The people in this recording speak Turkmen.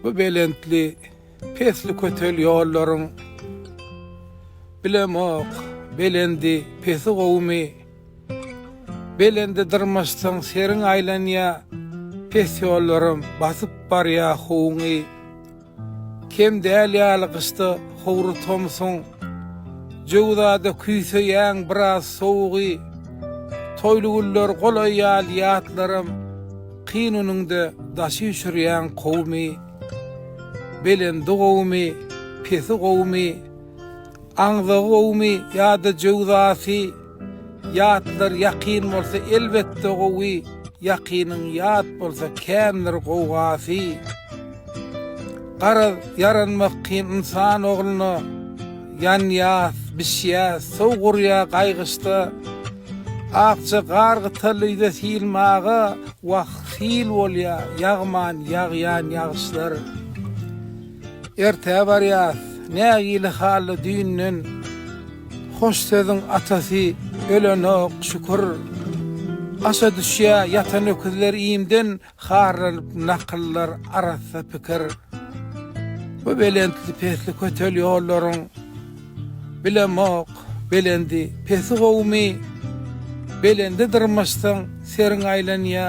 Bu belentli, pesli-kötel ýollaryň Bilemok, belendi, pesi gowumy? Belende dyrmaşsaň seriň aýlanýa, Pes ýollarym basyp barýa howuňy. Kem däl ýaly gyşda howry tomsuň. Jöwzada küýseýäň biraz sowugy. Toýly günler golaý ýaly ýatlaram. Kyn günüňde daşy üşürýäň kowumy. Belendi gowumy, pesi gowumy. Aňza gowumy ýa-da jöwzasy ýatlar ýakyn bolsa elbetde gowy ýakynyň ýat bolsa kändir gowgasy Garaz ýaranmak kyn ynsan ogluna ýanýas bişýäs sow gurýa gaýgyşda Akja gar gytalyda sil maga wah sil bolýa ýagman ýagýan ýagyşlar. Ertä barýas, nägile hally düýnden, Hoş sözüň atasy ölenok, şükür. Aşa düşýä ýatan öküzler iýmden, Harlanyp nakyllar, arassa pikir. Bu belentli-pesli kötel ýollaryň, Bilemok, belendi, pesi gowumy? Belende dyrmaşsaň, seriň aýlanýa.